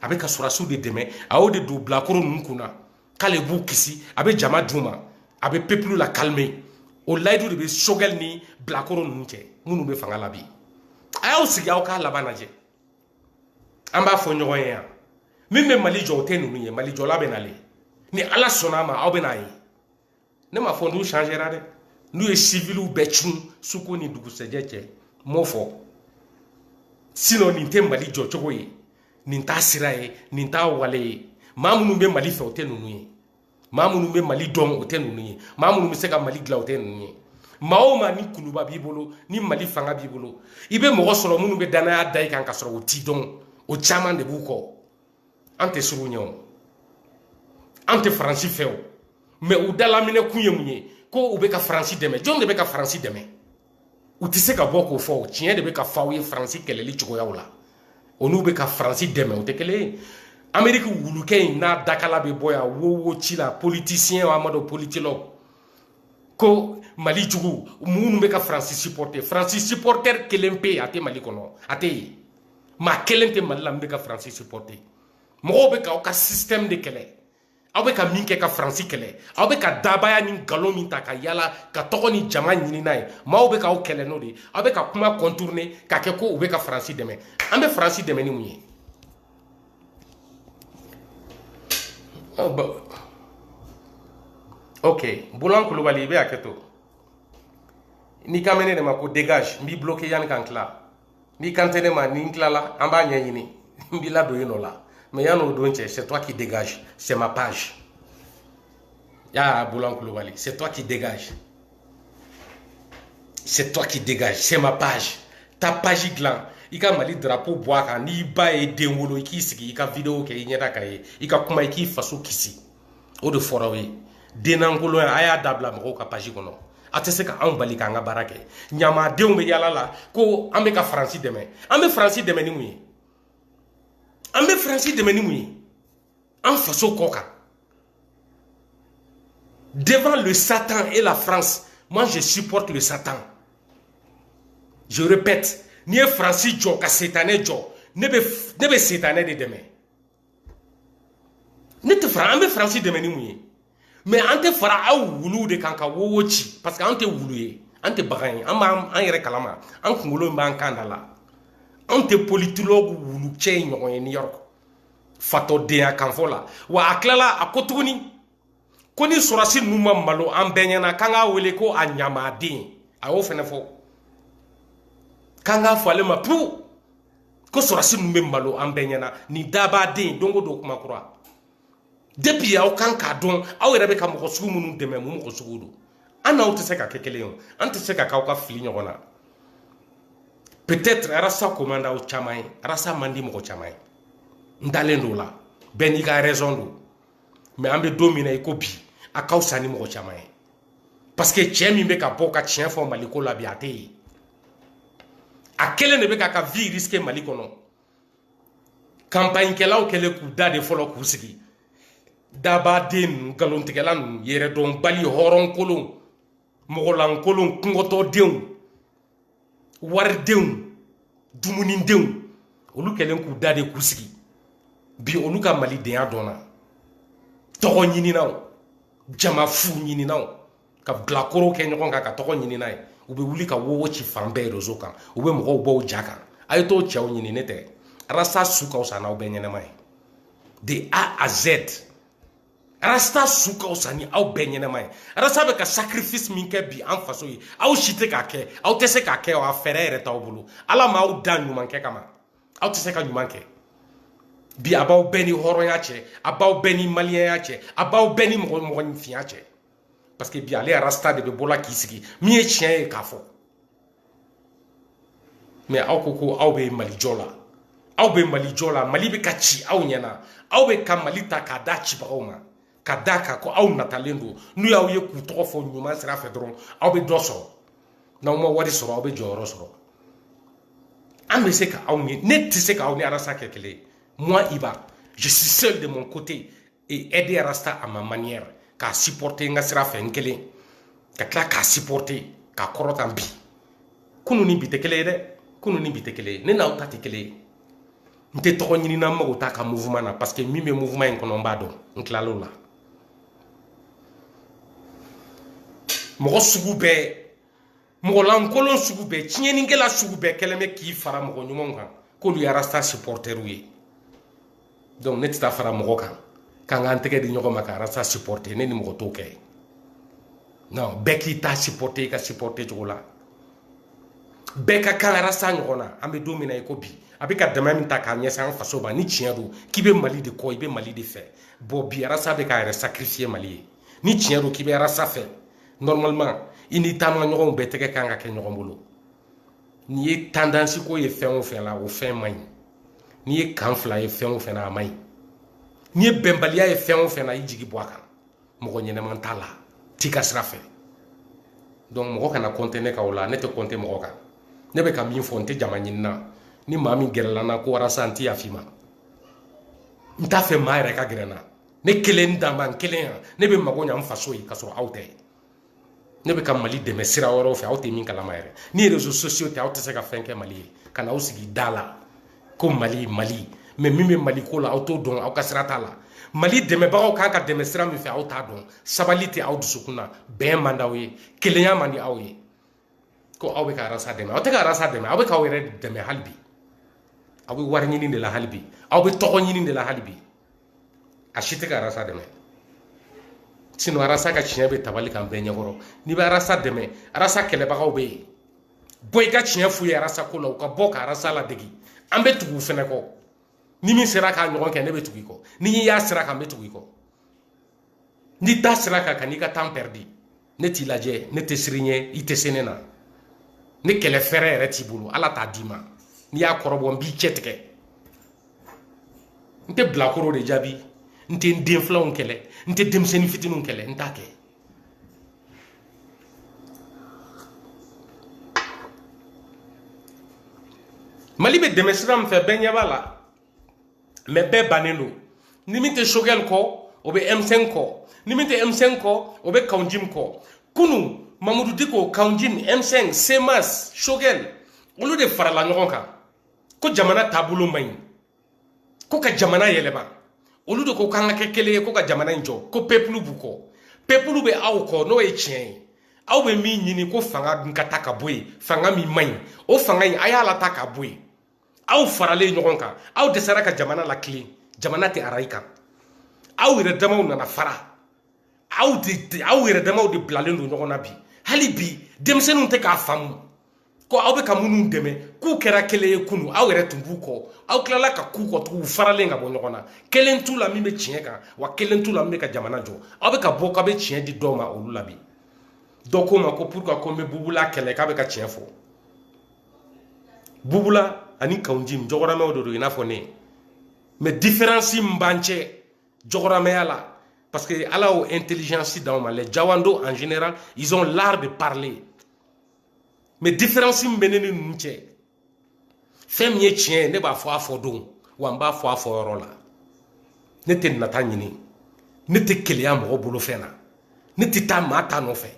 a bɛ ka sɔrɔsiw de dɛmɛ a y'o de don bilakoro ninnu kun na k'ale b'u kisi a bɛ jama d'u ma a bɛ pepulu lakalime o layidu de bɛ sogɛli ni bilakoro ninnu cɛ minnu bɛ fanga la bi a y'aw sigi aw k'a laban lajɛ an b'a fɔ ɲɔgɔn ye yan min bɛ mali jɔ o tɛ ninnu ye mali jɔla bɛ na le ni ala sɔnna a ma aw bɛn'a ye ne m'a fɔ n'u changera dɛ n'u ye siviliw bɛɛ cun suko ni dugusɛjɛ cɛ n m'o fɔ sinɔn nin tɛ mali jɔcogo ye nin t'a sira ye nin t'a wale ye maa minnu bɛ mali fɛ o tɛ ninnu ye maa minnu bɛ mali dɔn o tɛ ninnu ye maa minnu bɛ se ka mali dilan o tɛ ninnu ye maa o maa ni kuluba b'i bolo ni mali fanga b'i bolo i bɛ mɔgɔ sɔrɔ minnu bɛ dannaya da i kan ka sɔrɔ o t'i dɔn o caman de b'u kɔ an tɛ sugu ɲɛ o an tɛ faransi fɛ o mɛ u dalaminɛ kun ye mun ye ko u bɛ ka faransi dɛmɛ jɔn de bɛ ka faransi dɛmɛ u tɛ se ka bɔ k'o fɔ tiɲɛ de bɛ ka fɔ aw ye faransi kɛlɛli cogoyaw la o n'u bɛ ka faransi dɛmɛ o tɛ kelen ye ameriki wulukɛ in n'a dakala bɛ bɔ yan wo wo ci la politisiyɛn a ma dɔn politologue ko mali jugu minnu bɛ ka faransi supporter faransi supporter kelen pe a tɛ mali kɔnɔ a tɛ yen maa kelen tɛ mali la min bɛ ka faransi supporter mɔgɔw bɛ ka aw ka système de kɛlɛ aw bɛ ka min kɛ ka faransi kɛlɛ aw bɛ ka dabaya ni nkalon min ta ka yala ka tɔgɔ ni jama ɲini n'a ye maaw bɛ ka aw kɛlɛ n'o de ye aw bɛ ka kuma contourner ka kɛ ko u bɛ ka faransi dɛmɛ an bɛ faransi dɛmɛ ni mun ye ok bulan kulubali i bɛ hakɛ to n'i kan bɛ ne de ma ko dégage n b'i bloquer yanni ka n tila n'i kan tɛ ne ma ni n tilala an b'a ɲɛɲini n b'i ladon i nɔ la mɛ yann'o don cɛ c'est toi qui dégage c'est ma page y'a bulan kulubali c'est toi qui dégage c'est toi qui dégage c'est ma page taa page dilan i ka mali drapeau bɔ a kan n'i ba ye den wolo i k'i sigi i ka video kɛ i ɲɛda ka ye i ka kuma i k'i faso kisi o de fɔra aw ye dennankolonya a y'a dabila mɔgɔw ka page kɔnɔ a tɛ se ka anw bali k'an ka baara kɛ ɲamadenw bɛ yala la ko an bɛ ka faransi dɛmɛ an bɛ faransi dɛmɛ ni mun ye an bɛ faransi dɛmɛ ni mun ye an faso kɔ kan devant le satan et la france moi je supporte le satan je répète n'i ye faransi jɔ ka setanɛ jɔ ne bɛ setanɛ de dɛmɛ ne tɛ fara an bɛ faransi dɛmɛ ni mun ye mɛ an tɛ fara aw wuluw de kan ka wowo ci parce que an tɛ wulu ye an tɛ bagan ye an b'an yɛrɛ kalama an kunkolo b'an kan da la anw tɛ politologue wulu cɛ in ɲɔgɔn ye New York fatɔdenya kan fɔ la wa a tilala a ko tuguni ko ni sɔrɔdasi ninnu ma malo an bɛɛ ɲɛna k'an k'a wele ko a ɲamaden a y'o fɛnɛ fɔ k'an k'a fɔ ale ma pewu ko sɔrɔdasi ninnu bɛ malo an bɛɛ ɲɛna nin dabaden don o don kuma kura depuis aw kan k'a dɔn aw yɛrɛ bɛ ka mɔgɔ sugu minnu dɛmɛ mun mɔgɔ sugu don an n'aw tɛ se ka kɛ kelen ye an tɛ se ka k'aw ka fili ɲɔgɔn na peut-être arasa ko man d'aw caman ye arasa man di mɔgɔ caman ye n dalen don o la bɛɛ n'i ka raison don mais an bɛ don min na i ko bi a ka fisa ni mɔgɔ caman ye parce que cɛ min bɛ ka bɔ ka tiɲɛ fɔ mali ko la bi a tɛ yen a kelen de bɛ k'a ka vie risquer mali kɔnɔ kanpaɲikɛlaw kɛlen k'u da de fɔlɔ k'u sigi dabadenw nkalontigɛla ninnu yɛrɛdɔnbali hɔrɔnkolon mɔgɔlankolon kungɔtɔdenw waridenw dumunidenw olu kɛlen k'u da de k'u sigi bi olu ka malidenya dɔnna tɔgɔ ɲininaw jama fu ɲininaw ka bilakoro kɛ ɲɔgɔn kan ka tɔgɔ ɲini n'a ye u bɛ wuli ka wowo ci fan bɛɛ rezo kan u bɛ mɔgɔw bɔ u ja kan a ye t'o cɛw ɲini ne tɛ arasa su ka fisa n'aw bɛɛ ɲɛnama ye de a à z arasta su ka fisa ni aw bɛɛ ɲɛnama ye arasta bɛ ka sacrifice min kɛ bi an faso ye aw si tɛ k'a kɛ aw tɛ se k'a kɛ a fɛɛrɛ yɛrɛ t'aw bolo ala ma aw da ɲuman kɛ kama aw tɛ se ka ɲuman kɛ bi a b'aw bɛɛ ni hɔrɔnya cɛ a b'aw bɛɛ ni maliyɛnya cɛ a b'aw bɛɛ ni mɔgɔ mɔgɔninfinya cɛ parce que bi ale arasta de bɛ bɔ la k'i sigi min ye tiɲɛ ye k'a fɔ mais aw ko ko aw bɛ mali jɔ la aw bɛ mali jɔ la mali bɛ ka ci aw ɲɛna aw bɛ ka mali ta k'a da cibagaw ma ka da kan ko aw natalen don n'u y'aw ye k'u tɔgɔ fɔ ɲuman sira fɛ dɔrɔn aw bɛ dɔ sɔrɔ n'aw ma wari sɔrɔ aw bɛ jɔyɔrɔ sɔrɔ an bɛ se ka aw ni ne tɛ se ka aw ni arasa kɛ kelen ye moi iba je suis seul de mon côté aider arasta à ma manière k'a supporter n ka sira fɛ n kelen ka tila k'a supporter k'a kɔrɔta bi kunu ni bi tɛ kelen ye dɛ kunu ni bi tɛ kelen ye ne n'aw ta tɛ kelen ye n tɛ tɔgɔ ɲini na n mago t'a ka mouvement na parce que min bɛ mouvement in kɔnɔ n b'a dɔn n tilal'o la mɔgɔ sugu bɛɛ mɔgɔlankolon sugu bɛɛ tiɲɛnikɛla sugu bɛɛ kɛlen bɛ k'i fara mɔgɔ ɲumanw kan k'olu ye arasta supporterw ye donc ne tɛ taa fara mɔgɔ kan k'an k'an tɛgɛ di ɲɔgɔn ma ka arasta supporter ne ni mɔgɔ t'o kɛ non bɛɛ k'i ta supporter i ka supporter cogo la bɛɛ ka kan arasta ɲɔgɔn na an bɛ don min na i ko bi a bɛ ka dɛmɛ min ta k'a ɲɛsin an faso ma ni tiɲɛ don k'i bɛ mali de kɔ i bɛ mali de fɛ bon bi arasa bɛ k'a yɛrɛ sacrifier mali ye ni tiɲɛ don k'i bɛ arasa fɛ normalement i ni taamaɲɔgɔnw bɛɛ tɛgɛ kan ka kɛ ɲɔgɔn bolo n'i ye tendance ko ye fɛn o fɛn la o fɛn man ɲi n'i ye kan fila ye fɛn o fɛn na a man ɲi n'i ye bɛnbaliya ye fɛn o fɛn na i jigi bɔ a kan mɔgɔ ɲɛnama t'a la t'i ka sira fɛ donc mɔgɔ kana compter ne kan o la ne tɛ compter mɔgɔ kan ne bɛ ka min fɔ n tɛ jama ɲini na ni maa min gɛrɛla n na ko walasa n tɛ yafa i ma n t'a fɛ maa yɛrɛ ka gɛrɛ n na ne kelen dama n kelen yan ne bɛ mago ɲa n faso ye ka sɔrɔ aw tɛ ne bɛ ka mali dɛmɛ sira wɛrɛw fɛ aw tɛ min kalama yɛrɛ ni réseaux sociaux tɛ aw tɛ se ka fɛn kɛ mali ye ka na aw sigi da la ko mali mali mais min bɛ mali ko la aw t'o dɔn aw ka sira t'a la mali dɛmɛbagaw kan k'a dɛmɛ sira min fɛ aw t'a dɔn sabali tɛ aw dusukun na bɛn man di aw ye kelenya man di aw ye ko aw bɛ ka arasa dɛmɛ aw tɛ ka arasa dɛmɛ aw bɛ k'aw yɛrɛ dɛmɛ hali bi aw bɛ wari ɲini de la hali bi aw bɛ tɔgɔ ɲini de la hali bi a si tɛ ka arasa dɛmɛ sinon arasa ka tiɲɛ bɛ tabali kan bɛɛ ɲɛkɔrɔ n'i bɛ arasa dɛmɛ arasa kɛlɛbagaw bɛ yen bɔ i ka tiɲɛ f'u ye arasa ko la u ka bɔ ka arasa ladege an bɛ tugu u fɛnɛ kɔ ni min sera k'a ɲɔgɔn kɛ ne bɛ tugu i kɔ n'i y'a sira kan n bɛ tugu i kɔ n'i t'a sira kan kan'i ka tan pɛridi ne t'i lajɛ ne tɛ siran i ɲɛ i tɛ se ne na ni kɛlɛ fɛɛrɛ yɛrɛ t'i bolo ala t'a d'i ma n'i y'a kɔrɔbɔ n b'i cɛ tigɛ n tɛ bilakoro de jaabi n tɛ n den filanw kɛlɛ n tɛ denmisɛnnin fitininw kɛlɛ n t'a kɛ mali bɛ dɛmɛ sira min fɛ bɛɛ ɲɛ b'a la mais bɛɛ bannen don ni min tɛ sogɛli kɔ o bɛ m5 kɔ ni min tɛ m5 kɔ o bɛ kaunjim kɔ kunu mamudu diko kaunjim m5 semas sogɛli olu de farala ɲɔgɔn kan ko jamana taabolo man ɲi ko ka jamana yɛlɛma olu de ko k'an ka kɛ kelen ye ko ka jamana in jɔ ko peuple b'u kɔ peuple bɛ aw kɔ n'o ye tiɲɛ ye aw bɛ min ɲini ko fanga dun ka ta ka bɔ yen fanga min man ɲi o fanga in a y'a lata ka bɔ yen aw faralen ɲɔgɔn kan aw dɛsɛra ka jamana latilen jamana tɛ arayi kan aw yɛrɛ damaw nana fara aw de aw yɛrɛ damaw de bilalen don ɲɔgɔn na bi hali bi denmisɛnninw tɛ k'a faamu ko aw bɛ ka minnu dɛmɛ k'u kɛra kelen ye kunu aw yɛrɛ tun b'u kɔ aw tilala ka k'u kɔ tugun faralen ka bɔ ɲɔgɔn na kelen t'u la min bɛ tiɲɛ kan wa kelen t'u la min bɛ ka jamana jɔ aw bɛ ka bɔ k'aw bɛ tiɲɛ di dɔw ma olu la bi dɔ ko n ma ko pourquoi ko n bɛ bubula kɛlɛ k'a bɛ ka tiɲɛ fɔ bubula ani kaunjim jɔgɔramɛw de don i n'a fɔ ne mais différence min b'an cɛ jɔgɔramɛya la parce que ala y'o intelligence d'anw ma les jawando en général ils ont l'art de parler mais différence min bɛ ne ni ninnu cɛ fɛn min ye tiɲɛ ye ne b'a fɔ a fɔ don wa n b'a fɔ a fɔ yɔrɔ la ne tɛ nata ɲini ne tɛ keleya mɔgɔ bolo fɛn na ne tɛ taa maa ta nɔfɛ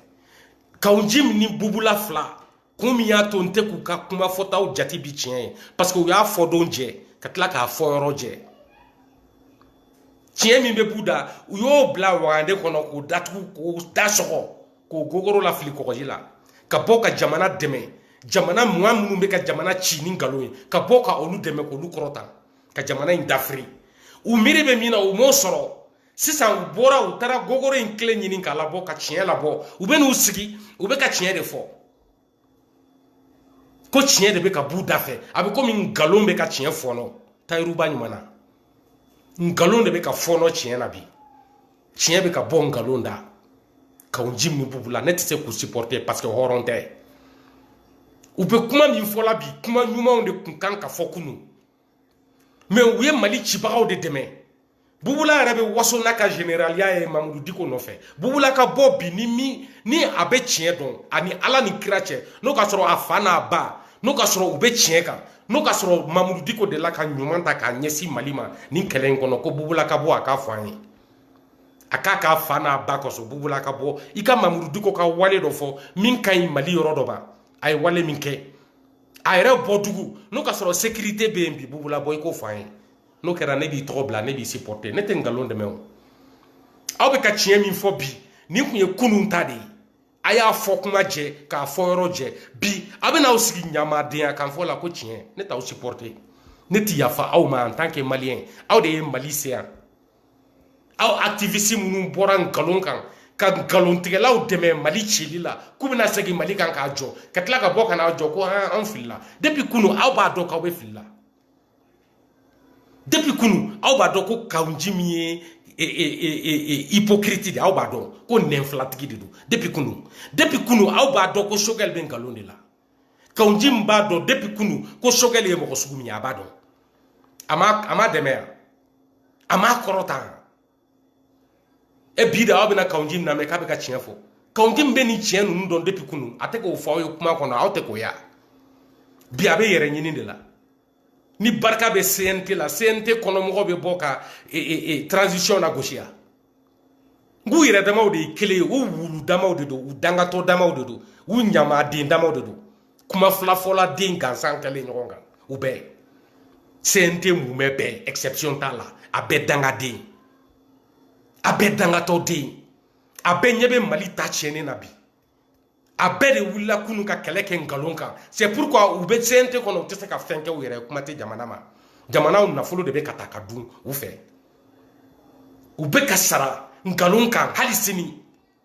kaunjim ni bubula fila kun min y'a to n tɛ k'u ka kuma fɔtaw jate bi tiɲɛ ye parce que u y'a fɔ don jɛ ka tila k'a fɔ yɔrɔ jɛ tiɲɛ min bɛɛ b'u da u y'o bila wagande kɔnɔ k'o datugu k'o da sɔgɔ k'o gogoro lafili kɔgɔji la ka bɔ ka jamana dɛmɛ jamana mɔgɔ minnu bɛ ka jamana ci ni nkalon ye ka bɔ ka olu dɛmɛ k'olu kɔrɔta ka jamana in dafiri u miiri bɛ min na u m'o sɔrɔ sisan u bɔra u taara gogoro in kelen ɲini k'a labɔ ka tiɲɛ labɔ u bɛ n'u sigi u bɛ ka tiɲɛ de fɔ ko tiɲɛ de bɛ ka b'u da fɛ a bɛ komi nkalon bɛ ka tiɲɛ fɔɔnɔ tayiruba ɲuman na nkalon de bɛ ka fɔɔnɔ tiɲɛ na bi tiɲɛ bɛ ka bɔ nkalon da kawunjim ni bubula ne tɛ se k'u supporter parce que hɔrɔn tɛ u bɛ kuma min fɔla bi kuma ɲumanw de tun kan ka fɔ kunu mais u ye mali cibagaw de dɛmɛ bubula yɛrɛ bɛ waso n'a ka generaliya ye mamudu diko nɔfɛ bubula ka bɔ bi ni min ni a bɛ tiɲɛ dɔn ani ala ni kira cɛ n'o ka sɔrɔ a fa n'a ba n'o ka sɔrɔ u bɛ tiɲɛ kan n'o ka sɔrɔ mamudu diko de la ka ɲuman ta k'a ɲɛsin mali ma nin kɛlɛ in kɔnɔ ko bubula ka bɔ a k'a fɔ an ye a k'a k'a fa n'a ba kɔsɔn bubula ka bɔ i ka mamudu diko ka wale dɔ fɔ min ka ɲi mali yɔrɔ dɔ ba a ye wale min kɛ a yɛrɛ bɔ dugu n'o ka sɔrɔ sécurité bɛ yen bi bubula bɔ i k'o fɔ an ye n'o kɛra ne b'i tɔgɔ bila ne b'i supporter ne tɛ nkalon dɛmɛ o aw bɛ ka tiɲɛ min fɔ bi nin tun ye kunun ta de ye a y'a fɔ kuma jɛ k'a fɔ yɔrɔ jɛ bi a bɛ n'aw sigi ɲamadenya kan fɔ la ko tiɲɛ ne t'aw supporter ne tɛ yafa aw ma en tant que malien aw de ye mali se yan aw activiste minnu bɔra nkalon kan ka nkalontigɛlaw dɛmɛ mali cili la k'u bɛna segin mali kan k'a jɔ ka tila ka bɔ ka n'a jɔ ko an filila depuis kunu aw b'a dɔn k'aw bɛ filila depuis kunu aw b'a dɔn ko kawunjim ye e, e, e, hypocrite de aw b'a dɔn ko nɛnfilatigi de don depuis kunu depuis kunu aw b'a dɔn ko choguel bɛ nkalon de la kawunjim b'a dɔn depuis kunu ko choguel ye mɔgɔ sugu min ye a b'a dɔn a m'a dɛmɛ yan a m'a kɔrɔta yan e bi de aw bɛna kawunjim na mɛ k'a bɛ ka tiɲɛ fɔ kawunjim bɛ nin tiɲɛ ninnu dɔn depuis kunu a tɛ k'o fɔ aw ye kuma kɔnɔ aw tɛ k'o y'a bi a bɛ yɛrɛ ɲini de la ni barika bɛ cnt la cnt kɔnɔmɔgɔ bɛ bɔ ka e, e, e, transition nagosi yan k'u yɛrɛ damaw de ye kelen ye u wulu damaw de don u dangatɔ damaw de don u ɲamaden damaw de don kuma fila fɔla den gansan kɛlen ɲɔgɔn kan u bɛɛ cnt mumɛ bɛɛ exception t'a la a bɛɛ dangaden a bɛɛ dangatɔ den a bɛɛ ɲɛ bɛ mali ta tiɲɛni na bi a bɛɛ de wulila kunu ka kɛlɛ kɛ nkalon kan c'est pourquoi u bɛ cnt kɔnɔ u tɛ se ka fɛn kɛ u yɛrɛ kuma tɛ jamana ma jamanaw nafolo de bɛ ka ta ka dun u fɛ u bɛ ka sara nkalon kan hali sini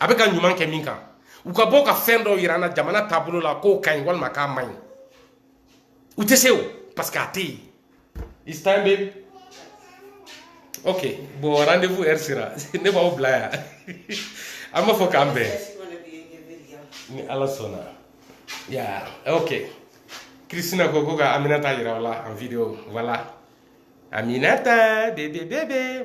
a bɛ ka ɲuman kɛ min kan u ka bɔ ka fɛn dɔ yira an na jamana taabolo la k'o ka ɲi walima k'a man ɲi u tɛ se o parce que a tɛ yen it's time baby ok bon rendez-vous heure sera ne b'aw bila yan an b'a fɔ k'an bɛn ni ala sɔnna ya ok kristina ko ko ka aminata yira o la en video voilà aminata bébé bébé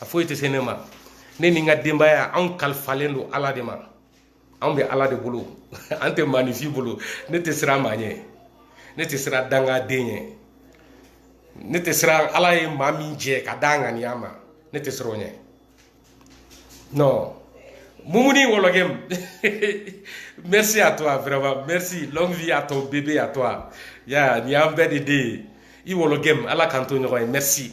a foyi tɛ se ne ma ne ni n ka denbaya anw kalifalen don ala de ma anw bɛ ala de bolo an tɛ maaninfin bolo ne tɛ siran maa ɲɛ ne tɛ siran dangaden ɲɛ ne tɛ siran ala ye maa min jɛ ka da ŋaniya ma ne tɛ siran o ɲɛ non mumuni wologɛm merci à toi vraiment merci longue vie à ton bébé à toi ya nin y'an bɛɛ de den ye i wologɛm ala k'an to ɲɔgɔn ye merci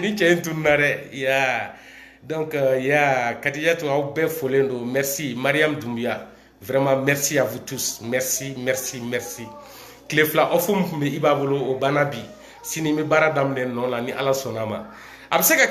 nin cɛ in tununna dɛ ya donc euh, ya kadijatu aw bɛɛ folen don merci mariam dumbuya vraiment merci à vous tous merci merci merci tile fila off min tun bɛ i ba bolo o banna bi sini n bɛ baara daminɛ nɔ la ni ala sɔnna a ma a bɛ se ka